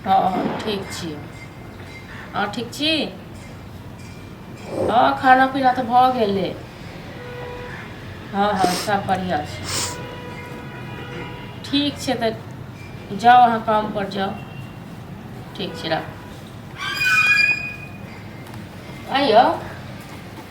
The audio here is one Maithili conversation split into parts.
हँ हँ ठीक छियै अहाँ ठीक छी हँ खाना पीना तऽ भऽ गेलै हँ हँ सब बढ़िआँ छै ठीक छै तऽ जाउ अहाँ कामपर जाउ ठीक छै राखू आँय यौ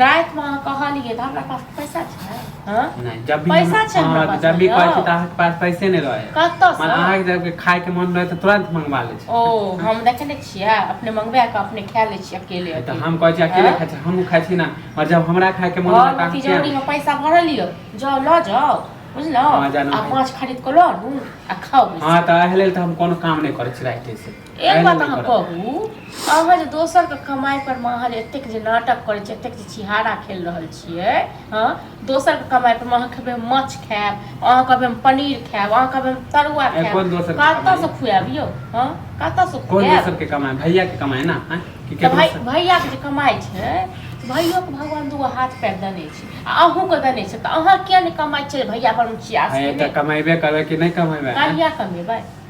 राति में कहलिए हमरा पास पैसा छै हां नहीं जब भी पैसा छै हमरा पास जब भी कहै छै त के पास पैसे नहीं रहे कत से मन अहाँ जब के खाए के मन रहे त तुरंत मंगवा ले छै ओ हम देखे नै छियै अपने मंगवा के अपने खा ले छी अकेले त हम कहै छी अकेले खाए छी हम खाए छी ना और जब हमरा खाए के मन रहे त तिजोरी में पैसा भरल लियो जाओ ल जाओ बुझलो आ पांच खरीद को लो आ खाओ हां त एहले त हम कोनो काम नहीं करै छी राति से एक बात अहाँ कहू अहाँ जे दोसरके कमाइपर मे अहाँ जे एतेक जे नाटक करै छियै एतेक जे छिहारा खेल रहल छियै हँ दोसरके कमाइपर मे अहाँ खेबै माछ खायब अहाँ कहबै हम पनीर खायब अहाँ कहबै हम तरुआ खायब कोन दोसर कतऽसँ खुआएब यौ हँ कतऽसँ खुआएब कमाइ भैयाके कमाइ ने भैयाके जे कमाइ छै भैयोके भगवान दूगो हाथ पैर देने छै आ अहूँके देने छै तऽ अहाँ किया नहि कमाइ छियै भैया पर छियै कमेबे करबै कि नहि कमेबै कहिया कमेबै